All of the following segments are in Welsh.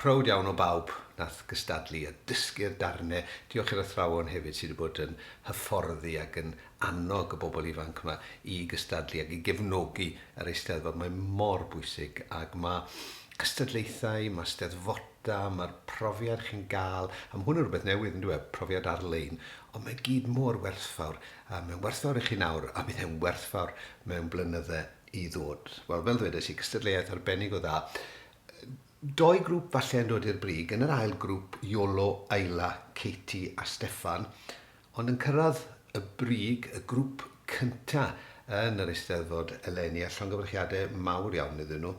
Prowd iawn o bawb nath gystadlu a dysgu'r darne. Diolch i'r athrawon hefyd sy 'di bod yn hyfforddi ac yn annog y bobl ifanc 'ma i gystadlu ac i gefnogi yr Eisteddfod. Mae mor bwysig ac ma' cystadlaethau, ma' steddfoda, ma'r profiad chi'n ga'l, a ma' hwn yn rwbeth newydd yndyw e, profiad ar-lein, ond mae gyd mor werthfawr a mae'n werthfawr i chi nawr a bydd e'n werthfawr mewn blynydde i ddod. Wel, fel ddwedes i, cystadleuaeth arbennig o dda. Doi grwp falle yn dod i'r brig yn yr ail grwp, Iolo, Ayla, Katie a Steffan, ond yn cyrraedd y brig, y grwp cynta yn yr Eisteddfod eleni, a llongyfarchiadau mawr iawn iddyn nhw.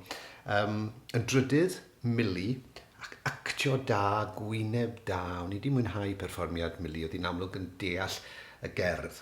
Yym, yn drydydd, Millie, ac actio da, gwyneb da, o'n i 'di mwynhau perfformiad Millie, oedd hi'n amlwg yn deall y gerdd.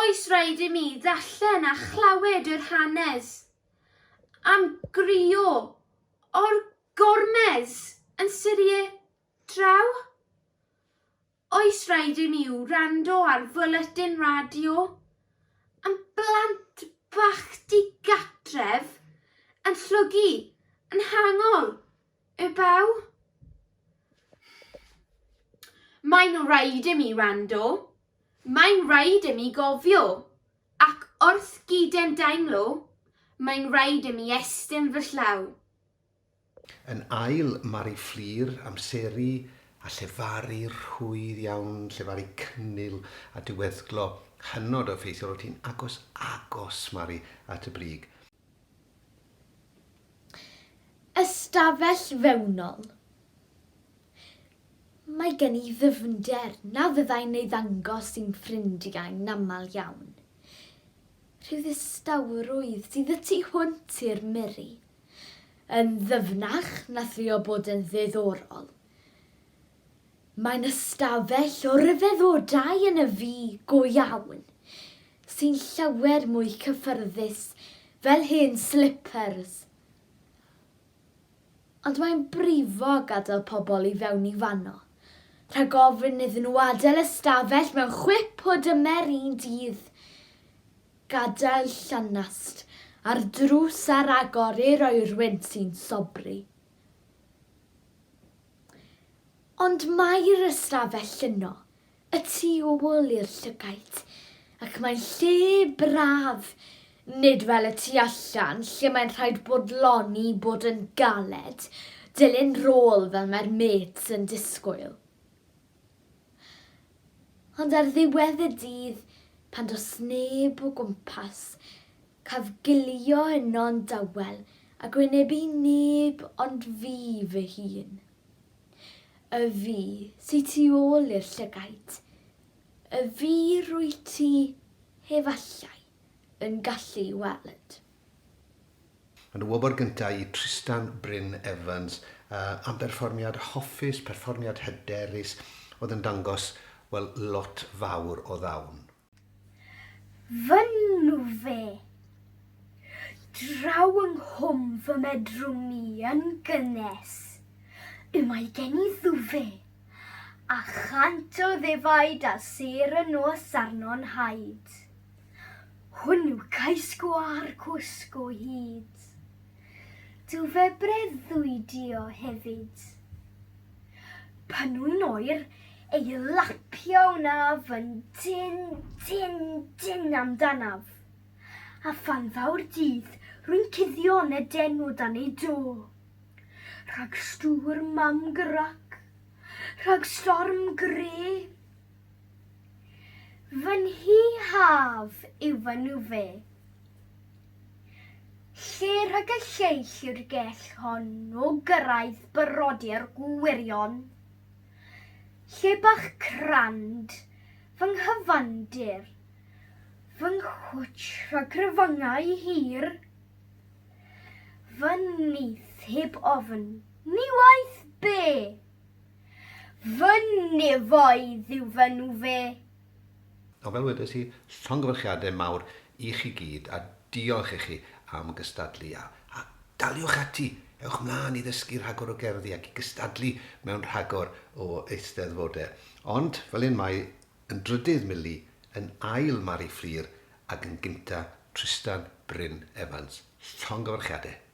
Oes raid i mi ddarllen a chlywed yr hanes am grio o'r gormes yn Syrie draw? Oes raid i mi wrando ar fwletin radio am blant bach di-gatref yn llwgu yn hangol Y baw? Mae'n rhaid i mi wrando, mae'n rhaid i mi gofio, ac wrth gydem daimlo, mae'n rhaid i mi estyn fy llaw. Yn ail, mae'r i fflur, amseru, a llefaru rhwydd iawn, llefaru cynnil a diweddglo hynod o effeithiol, oti'n agos, agos, Mari, at y brig. Ystafell fewnol. Mae gen i ddyfnder na fyddai'n ei ddangos i'm ffrindiau'n aml iawn. Rhyw ddistawrwydd sydd y tu hwnt i'r miri. Yn ddyfnach na thrio bod yn ddiddorol. Mae'n ystafell o ryfeddodau yn y fi go iawn, sy'n llawer mwy cyffyrddus fel hen slippers. Ond mae'n brifo gadael pobl i fewn i fanno, rhag ofn iddyn nhw adael ystafell mewn chwip o dymer un dydd, gadael llanast ar drws ar agor i'r oerwyn sy'n sobri. Ond mae'r ystafell yno, y tu ôl i'r llygaid, ac mae'n lle braf, nid fel y tu allan lle mae'n rhaid bodloni bod yn galed, dilyn rôl fel mae'r mêts yn disgwyl. Ond ar ddiwedd y dydd, pan does neb o gwmpas, Caf gilio yno'n dawel ac wynebu neb ond fi fy hun. Y fi sy tu ôl i'r llygaid, y fi rwyt ti, efallai, yn gallu weld. Yn y wobr gyntaf i Trystan Bryn Evans am berfformiad hoffus, perfformiad hyderus oedd yn dangos, wel, lot fawr o ddawn. Fy nhw-fe. Draw yng nghwm fy medrwm i yn gynnes, y mae gen i ddw-fe, a chant o ddefaid a sêr y nos arno'n haid. Hwn yw cais-gwâr cwsg o hyd. Dw fe breuddwydio hefyd. Pan wy'n oer, ei lapio wnaf yn dyn, dyn, dyn amdanaf. A phan ddaw'r dydd, rwy'n cuddio yn y den o dan ei do. Rhag stŵr mam grac, rhag storm gre. Fy nhi haf yw fy nhw fe. Lle rhag y lleill yw'r gell hon o gyrraedd brodyr gwirion. Lle bach crand, fy nghyfandir, fy nghwtsh rhag cryfangau hir, fy nyth heb ofn, ni waeth be! Fy nefoedd yw fy nhw fe. A fel wedes i, llongyfarchiadau mawr i chi gyd a diolch i chi am gystadlu a a daliwch ati, ewch mlaen i ddysgu rhagor o gerddi ac i gystadlu mewn rhagor o eisteddfodau. Ond, fel hyn mae yn drydydd Milly, yn ail Mari Fflur ac yn gynta Trystan Bryn Evans. Llongyfarchiadau!